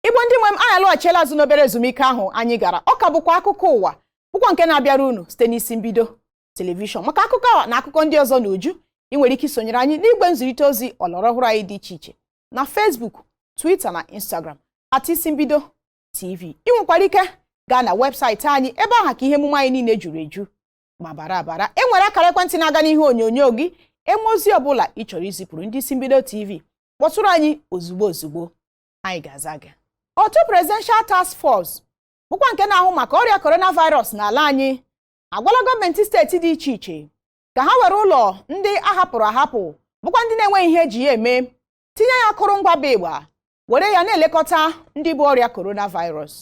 igbo ndị nwe m anyị alọghachiela azụ n'obere ezumike ahụ anyị gara ọ ka bụkwa akụkọ ụwa bụkwa nke na-abịara unu site n'isi mbido telivishọn maka akụkọ a na akụkọ ndị ọzọ n'uju ị nwere ike isonyere anyị n'igwe nzirịta ozi ọlọrọ ọhụrụ anyị dị iche iche na Facebook Twitter na Instagram at isi mbido TV ị nwekwara ike gaa na webụsaịtị anyị ebe ahụ ka ihe emume anyị niile juru eju ma bara abara e nwere akara ekwentị na-aga n'ihe onyonyo gị e nwee ozi ọbụla ị chọrọ izipụrụ ndị isi mbido TV kpọtụrụ anyị ozugbo ozugbo anyị ga-aza gị otu presidential task force bụkwa nke na-ahụ maka ọrịa coronavirus n'ala anyị agwala gọọmenti steeti dị iche iche ka ha were ụlọ ndị a hapụrụ ahapụ bụkwa ndị na-enweghị ihe e ji ya eme tinye ya akụrụngwa bụ ịgba were ya na-elekọta ndị bu ọrịa coronavirus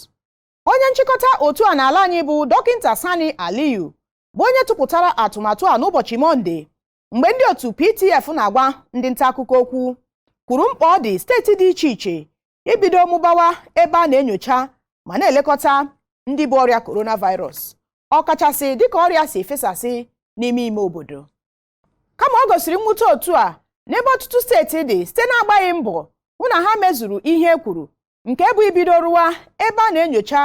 onye nchịkọta otu a n'ala anyị bụ dọkịta Sani Aliyu bụ onye tụpụtara atụmatụ a n'ụbọchị Mọnde mgbe ndị otu PTF na-agwa ndị nta akụkọ okwu kwuru mkpa ọ dị steeti dị iche iche ibido mụbawa ebe a na-enyocha ma na-elekọta ndị bu ọrịa coronavirus ọkachasị dịka ọrịa si efesasị n'ime ime obodo kama o gosiri mwute otu a n'ebe ọtụtụ steeti dị site n'agbaghị mbọ hụ na ha mezuru ihe e kwuru nke bụ ibido rụwa ebe a na-enyocha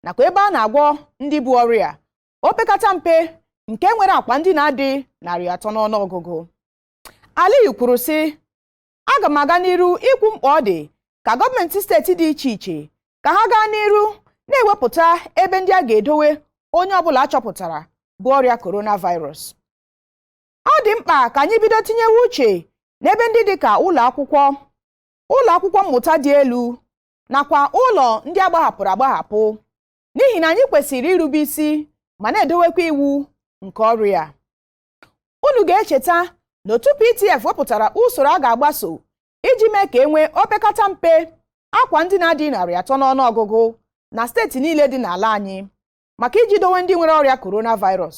nakwa ebe a na-agwọ ndị bu ọrịa opekata mpe nke nwere akwa ndina dị narị atọ n'ọnụ ọgụgụ Aliyu kwuru sị aga m aga n'iru ikwu mkpa ọ dị ka gọọmenti steeti dị iche iche ka ha gaa n'iru na-ewepụta ebe ndị a ga-edowe onye ọbụla a chọpụtara bu ọrịa coronavirus ọ dị mkpa ka anyị bido tinyewe uche n'ebe ndị dị ka ụlọ akwụkwọ ụlọ akwụkwọ mmụta dị elu nakwa ụlọ ndị a gbahapụrụ agbahapụ n'ihi na anyị kwesịrị irube isi ma na-edowekwa iwu nke ọrịa unu ga-echeta na otu PTF wepụtara usoro a ga-agbaso iji mee ka e nwee opekata mpe akwa ndina dị narị atọ n'ọnụ ọgụgụ na steeti niile dị n'ala anyị maka iji dowe ndị nwere ọrịa coronavirus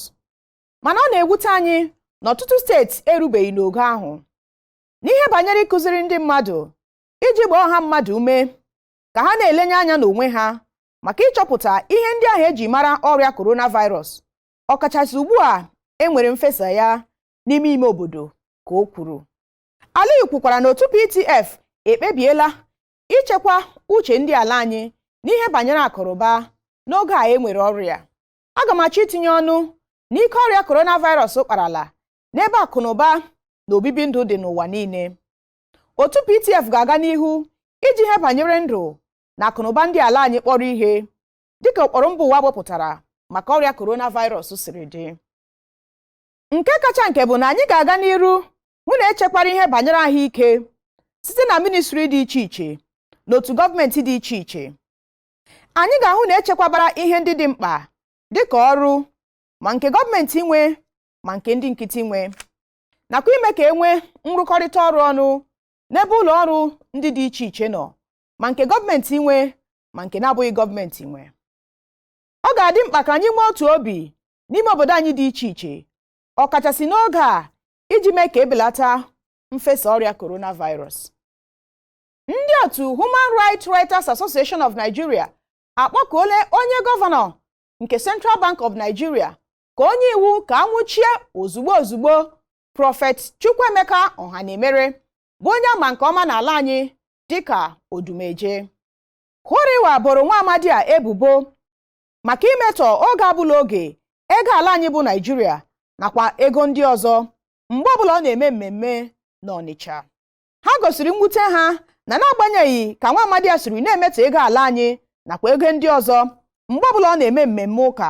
mana ọ na-ewute anyị na ọtụtụ steeti erubeghị n'ogo ahụ n'ihe banyere ịkụziri ndị mmadụ iji gbaa ọha mmadụ ume ka ha na-elenye anya n'onwe ha maka ịchọpụta ihe ndị ahụ e ji mara ọrịa coronavirus ọkachasị ugbu a e nwere mfesa ya n'ime ime obodo ka o kwuru Aliyu kwukwara na otu PTF ekpebiela ichekwa uche ndị ala anyị n'ihe banyere akụnụba n'oge a e nwere ọrịa aga m achọ itinye ọnụ n'ike ọrịa coronavirus kparala n'ebe akụnụba na obibi ndụ dị n'ụwa niile otu PTF ga-aga n'ihu iji ihe banyere ndụ na akụnụba ndị ala anyị kpọrọ ihe dịka ụkpụrụ mba ụwa wepụtara maka ọrịa coronavirus siri dị nke kacha nke bụ na anyị ga-aga n'iru hụ na echekwara ihe banyere ahụike site na ministri dị iche iche na otu gọọmenti dị iche iche anyị ga-ahụ na echekwabara ihe ndị dị mkpa dịka ọrụ ma nke gọọmenti nwe ma nke ndị nkịtị nwe nakwa ime ka e nwee nrụkọrịta ọrụ ọnụ n'ebe ụlọ ọrụ ndị dị iche iche nọ ma nke gọọmenti nwe ma nke na-abụghị gọọmenti nwe ọ ga-adị mkpa ka anyị nwee otu obi n'ime obodo anyị dị iche iche ọkachasị n'oge a iji mee ka ebelata mfesa ọrịa coronavirus ndị otu Human Rights Writers Association of Nigeria akpọkuola onye gọvanọ nke Central Bank of Nigeria ka o nye iwu ka a nwụchie ozugbo ozugbo prọfet Chukwuemeka Ohanaemere bụ onye a ma nke ọma n'ala anyị dịka Odumeje Huriwa boro nwa amadi a ebubo maka imetọ oge abụla oge ego ala anyị bụ Naịjirịa nakwa ego ndị ọzọ mgbe ọbụla ọ na-eme mmemme n'Ọnịcha ha gosiri mwute ha na n'agbanyeghị ka nwa amadi a siri na-emetọ ego ala anyị nakwa ego ndị ọzọ mgbe ọbụla ọ na-eme mmemme ụka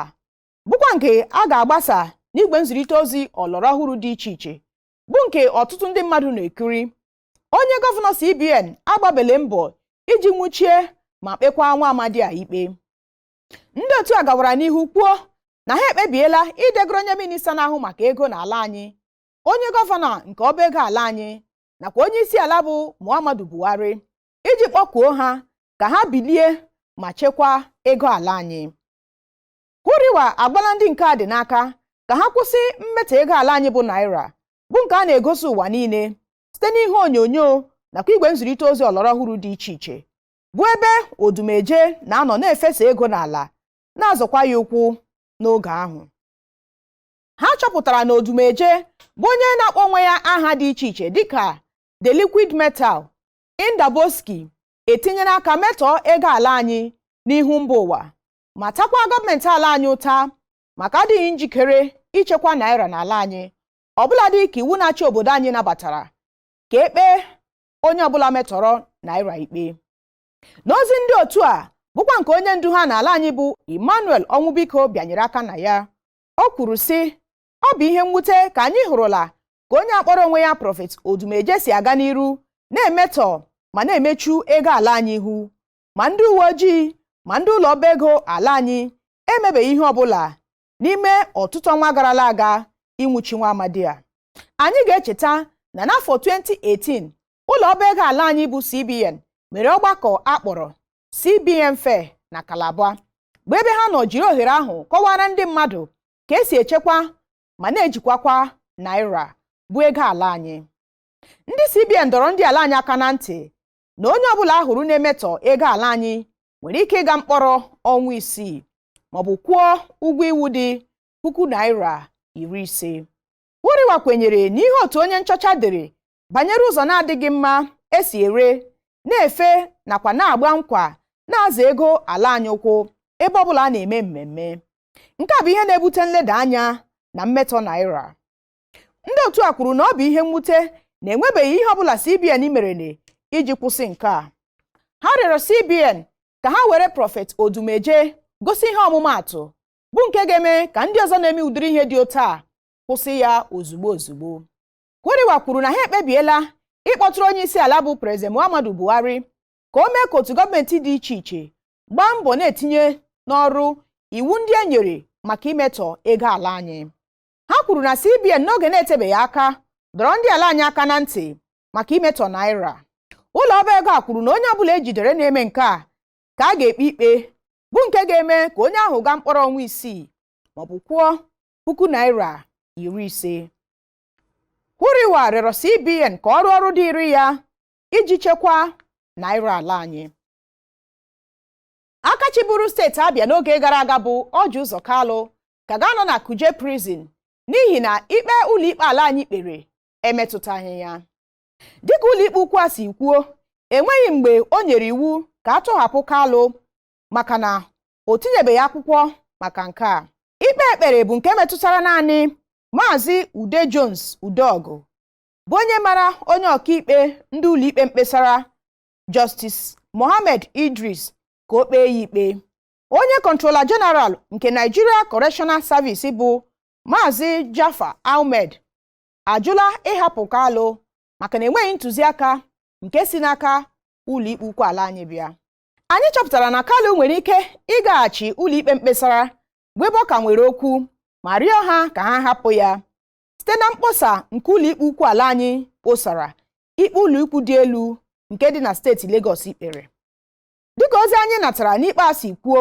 bụkwa nke a ga-agbasa n'igwe nzirịta ozi ọlọrọ ọhụrụ dị iche iche bụ nke ọtụtụ ndị mmadụ na-ekiri onye gọvanọ CBN agbabele mbọ iji nwụchie ma kpekwa nwa amadi a ikpe ndị otu a gawara n'ihu kwuo na ha ekpebiela idegoro onye minista na-ahụ maka ego n'ala anyị onye gọvanọ nke ọba ego ala anyị nakwa onye isi ala bụ Muhammadu Buhari iji kpọkuo ha ka ha bilie ma chekwaa ego ala anyị Huriwa agbala ndị nke a dị n'aka ka ha kwụsị mmetọ ego ala anyị bụ naira bụ nke a na-egosi ụwa niile site n'ihe onyonyo nakwa igwe nzirịta ozi ọlọrọ ọhụrụ dị iche iche bụ ebe Odumeje na-anọ na-efesa ego n'ala na-azọkwa ya ụkwụ n'oge ahụ ha chọpụtara na Odumeje bụ onye na-akpọ onwe ya aha dị iche iche dịka the liquid metal Indaboski etinyela aka metọọ ego ala anyị n'ihu mba ụwa ma takwa gọọmenti ala anyị ụta maka adịghị njikere ichekwa naira n'ala anyị ọbụladị ka iwu na-achị obodo anyị nabatara ka e kpee onye ọbụla metọrọ naira ikpe n'ozi ndị otu a bụkwa nke onye ndu ha n'ala anyị bụ Emmanuel Ọnwụbiko bịanyere aka na ya o kwuru sị ọ bụ ihe mwute ka anyị hụrụla ka onye a kpọrọ onwe ya prọfet Odumeje si aga n'iru na-emetọ ma na-emechu ego ala anyị ihu ma ndị uwe ojii ma ndị ụlọ ọba ego ala anyị emebeghị ihe ọbụla n'ime ọtụtụ ọnwa garala aga ịnwụchi nwa amadi a anyị ga-echeta na n'afọ 2018 ụlọ ọba ego ala anyị bụ CBN mere ọgbakọ a kpọrọ CBN Fair na Calabar bụ ebe ha nọ jiri ohere ahụ kọwaara ndị mmadụ ka esi echekwa ma na-ejikwakwa naira bụ ego ala anyị ndị CBN dọrọ ndị ala anyị aka na ntị na onye ọbụla a hụrụ na-emetọ ego ala anyị nwere ike ịga mkpọrọ ọnwa isii maọbụ kwụọ ụgwọ iwu dị puku naira iri ise Huriwa kwenyere n'ihe otu onye nchọcha dere banyere ụzọ na-adịghị mma esi ere na-efe nakwa na-agba nkwa na-azọ ego ala anyị ụkwụ ebe ọbụla a na-eme mmemme nke a bụ ihe na-ebute nleda anya na mmetọ naira ndị otu a kwuru na ọ bụ ihe mwute na enwebeghị ihe ọbụla CBN merene iji kwụsị nke a ha rịọrọ CBN ka ha were prọfet Odumeje gosi ihe ọmụmaatụ bụ nke ga-eme ka ndị ọzọ na-eme ụdịrị ihe dị otu a kwụsị ya ozugbo ozugbo Huriwa kwuru na ha ekpebiela ịkpọtụrụ onye isi ala bụ Prezident Muhammadu Buhari ka o mee ka otu gọọmenti dị iche iche gbaa mbọ na-etinye n'ọrụ iwu ndị e nyere maka imetọ ego ala anyị ha kwuru na CBN n'oge na-etebeghị aka dọrọ ndị ala anyị aka na ntị maka imetọ naira ụlọ ọba ego a kwuru na onye ọbụla e jidere na-eme nke a ka a ga-ekpe ikpe bụ nke ga-eme ka onye ahụ gaa mkpọrọ ọnwa isii maọbụ kwụọ puku naira iri ise Huriwa rịọrọ CBN ka ọ rụọ ọrụ dịịrị ya iji chekwaa naira ala anyị aka chịburu steeti Abịa n'oge gara aga bụ Ọji Ụzọ Kalụ ka ga-anọ na Kuje prison n'ihi na ikpe ụlọikpe ala anyị kpere emetụtaghị ya dịka ụlọikpe ukwu a si kwuo enweghị mgbe o nyere iwu ka a tọhapụ Kalụ maka na o tinyebeghị akwụkwọ maka nke a ikpe e kpere bụ nke metụtara naanị maazị Ude Jones Udeọgụ bụ onye mara onye ọkaikpe ndị ụlọikpe mkpesara Justice Mohammed Idris ka o kpee ya ikpe onye kọntrola jeneral nke Nigeria Correctional Service bụ Maazị Jafar Ahmed ajụla ịhapụ Kalụ maka na enweghị ntụziaka nke si n'aka ụlọikpe ukwu ala anyị bịa anyị chọpụtara na Kalụ nwere ike ịgaghachi ụlọikpe mkpesara bụ ebe ọ ka nwere okwu ma rịọ ha ka ha hapụ ya site na mkposa nke ụlọikpe ukwu ala anyị kposara ikpe ụlọikpe dị elu nke dị na steeti Lagos kpere dịka ozi anyị natara n'ikpe a si kwuo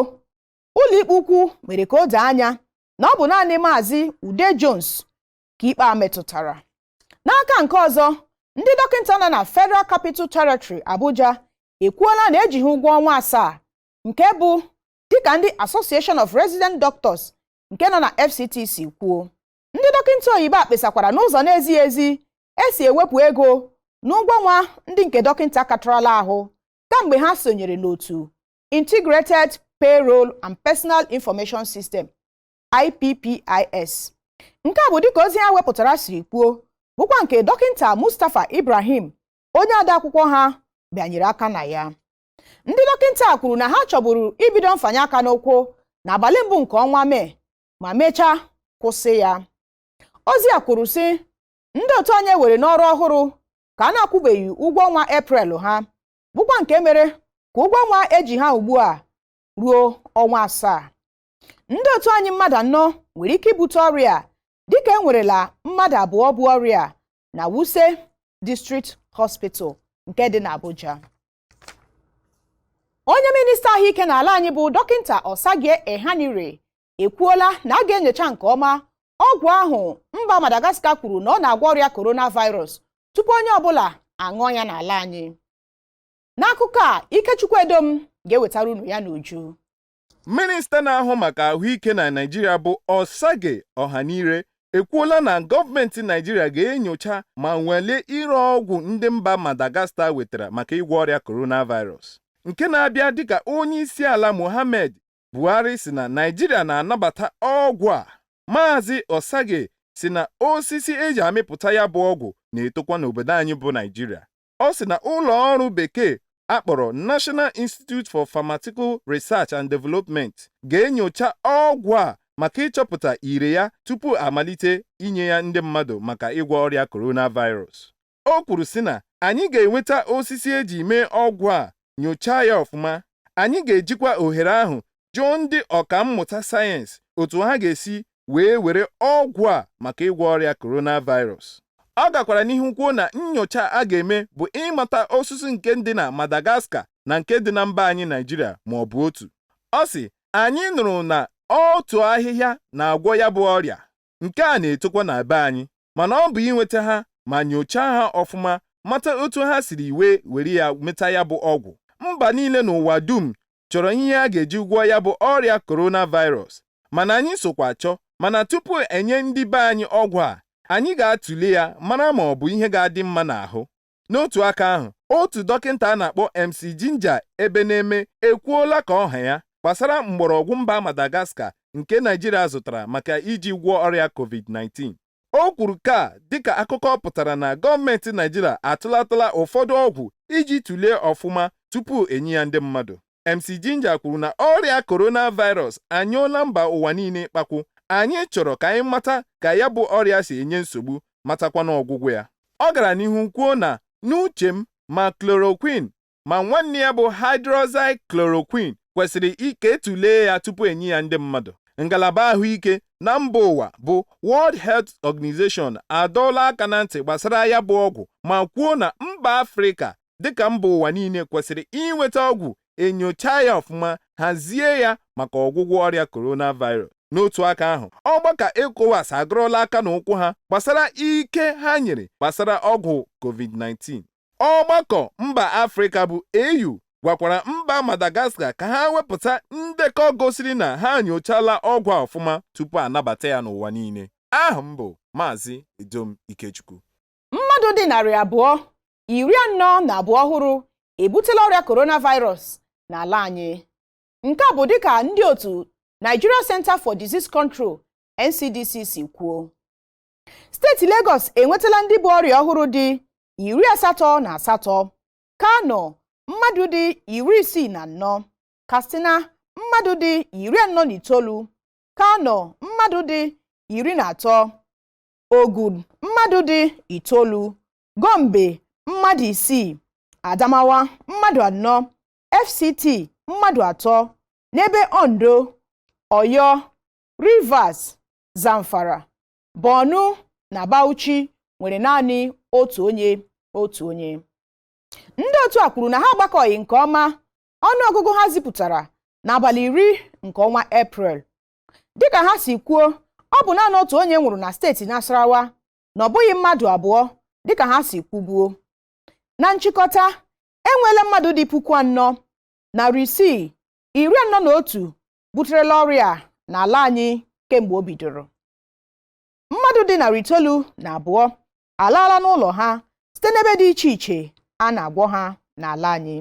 ụlọikpe ukwu mere ka o doo anya na ọ bụ naanị maazị Ude Jones ka ikpe a metụtara n'aka nke ọzọ ndị dọkịta nọ na Federal Capital Territory Abuja ekwuola na e ji ha ụgwọ ọnwa asaa nke bụ dịka ndị Association of Resident Doctors nke nọ na FCT si kwuo ndị dọkịta oyibo a kpesakwara n'ụzọ na-ezighị ezi e si ewepụ ego n'ụgwọ ọnwa ndị nke dọkịta katarala ahụ kamgbe ha sonyere n'otu Integrated Payroll and Personal Information System IPPIS nke a bụ dịka ozi ha wepụtara siri kwuo bụkwa nke dọkịta Mustapha Ibrahim onye odeakwụkwọ ha bịanyere aka na ya ndị dọkịta kwuru na ha chọburu ibido mfanye aka n'ụkwụ n'abalị mbụ nke ọnwa Mee ma mechaa kwụsị ya ozi a kwuru sị ndị otu anyị were n'ọrụ ọhụrụ ka a na-akwụbeghị ụgwọ ọnwa Eprel ha bụkwa nke mere ka ụgwọ ọnwa e ji ha ugbu a ruo ọnwa asaa ndị otu anyị mmadụ anọ nwere ike ibute ọrịa dịka e nwerela mmadụ abụọ bu ọrịa na Wuse District Hospital nke dị n'Abuja onye minista ahụike n'ala anyị bụ dọkịta Osagie Ehanire ekwuola na a ga-enyocha nke ọma ọgwụ ahụ mba Madagascar kwuru na ọ na-agwọ ọrịa coronavirus tupu onye ọbụla aṅụọ ya n'ala anyị n'akụkọ a Ikechukwu Edom ga-ewetara unu ya n'uju minista na-ahụ maka ahụike na Naịjirịa bụ Osagie Ehanire ekwuola na gọọmenti Naịjirịa ga-enyocha ma nwalee ire ọgwụ ndị mba Madagascar wetara maka ịgwọ ọrịa coronavirus nke na-abịa dịka onye isi ala Mohammed Buhari sị na Naịjirịa na-anabata ọgwụ a. Maazị Osagie sị na osisi e ji amịpụta ya bụ ọgwụ na-etokwa n'obodo anyị bụ Naịjirịa. Ọ sị na ụlọ ọrụ bekee a kpọrọ National Institute for Pharmaceutical Research and Development ga-enyocha ọgwụ a maka ịchọpụta ire ya tupu a malite inye ya ndị mmadụ maka ịgwọ ọrịa coronavirus. o kwuru sị na anyị ga-enweta osisi e ji mee ọgwụ a nyochaa ya ọfụma anyị ga-ejikwa ohere ahụ jụọ ndị ọka mmụta sayensị otu ha ga-esi wee were ọgwụ a maka ịgwọ ọrịa coronavirus ọ gakwara n'ihu kwuo na nnyocha a ga-eme bụ ịmata osisi nke dị na Madagascar na nke dị na mba anyị Naịjirịa ma ọ bụ otu ọ sị anyị nụrụ na otu ahịhịa na-agwọ ya bụ ọrịa nke a na-etokwa na be anyị mana ọ bụ inweta ha ma nyochaa ha ọfụma mata otu ha siri wee were ya meta ya bụ ọgwụ mba niile n'ụwa dum chọrọ ihe a ga-eji gwọọ ya bụ ọrịa coronavirus mana anyị sokwa chọọ mana tupu e nye ndị be anyị ọgwụ a anyị ga-atụle ya mara ma ọ bụ ihe ga-adị mma n'ahụ N'otu aka ahụ, otu dọkịta a na-akpọ MC Ginger Ebeneme ekwuola ka ọ ha ya gbasara mgbọrọgwụ mba Madagascar nke Naijiria zụtara maka iji gwọọ ọrịa COVID-19. O kwuru nke a dịka akụkọ pụtara na gọọmenti Naijiria atụlatala ụfọdụ ọgwụ iji tụlee ọfụma tupu enye ya ndị mmadụ. MC Ginger kwuru na ọrịa coronavirus anyụọla mba ụwa niile ikpakwu. Anyị chọrọ ka anyị mata ka ya bụ ọrịa si enye nsogbu matakwana ọgwụgwọ ya. Ọ gara n'ihu kwuo na n'uche m, ma chloroquine ma nwanne ya bụ hydroxychloroquine kwesịrị ka etulee ya tupu enye ya ndị mmadụ. Ngalaba ahụike na mba ụwa bụ World Health Organization adọọla aka na ntị gbasara ya bụ ọgwụ ma kwuo na mba Afrịka dịka mba ụwa niile kwesịrị inweta ọgwụ enyocha ya ọfụma hazie ya maka ọgwụgwọ ọrịa coronavirus n'otu aka ahụ ọgbakọ ECOWAS agụrụla aka na ụkwụ ha gbasara ike ha nyere gbasara ọgwụ covid-19 ọgbakọ mba afrịka bụ AU gwakwara mba Madagascar ka ha wepụta ndekọ gosiri na ha nyochala ọgwụ a ọfụma tupu anabata ya n'ụwa niile aha m bụ Maazị Edom Ikechukwu mmadụ dị narị abụọ iri anọ na abụọ ọhụrụ ebutela ọrịa coronavirus n'ala anyị nke a bụ dịka ndị otu Nigeria Center for Disease Control NCDC si kwuo steeti Lagos enwetala ndị bu ọrịa ọhụrụ dị iri asatọ na asatọ Kano mmadụ dị iri isii na anọ Katsina mmadụ dị iri anọ na itoolu Kano mmadụ dị iri na atọ Ogun mmadụ dị itoolu Gombe mmadụ isii Adamawa mmadụ anọ FCT mmadụ atọ n'ebe Ondo Oyo Rivers Zamfara Borno na Bauchi nwere naanị otu onye otu onye ndị otu a kwuru na ha agbakọghị nke ọma ọnụọgụgụ ha zipụtara n'abalị iri nke ọnwa eprel dịka ha si kwuo ọ bụ naanị otu onye nwụrụ na steeti Nasarawa na ọ bụghị mmadụ abụọ dịka ha si kwubuo na nchịkọta enweela mmadụ dị puku anọ narị isii iri anọ na otu buterela ọrịa n'ala anyị kemgbe o bidoro mmadụ dị narị itoolu na abụọ alaala n'ụlọ ha site n'ebe dị iche iche a na-agwọ ha n'ala anyị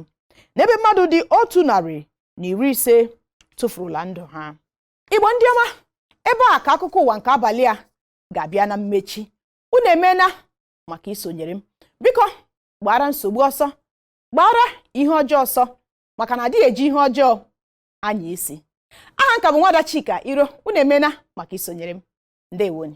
n'ebe mmadụ dị otu narị na iri ise tufurula ndụ ha igbo ndị ọma ebe a ka akụkọ ụwa nke abalị a ga-abịa na mmechi unu emeela maka isonyere m biko gbaara nsogbu ọsọ gbaara ihe ọjọọ ọsọ maka na adịghị eji ihe ọjọọ anya isi aha m ka bụ nwada Chika Iro unu emeela maka isonyere m ndewonụ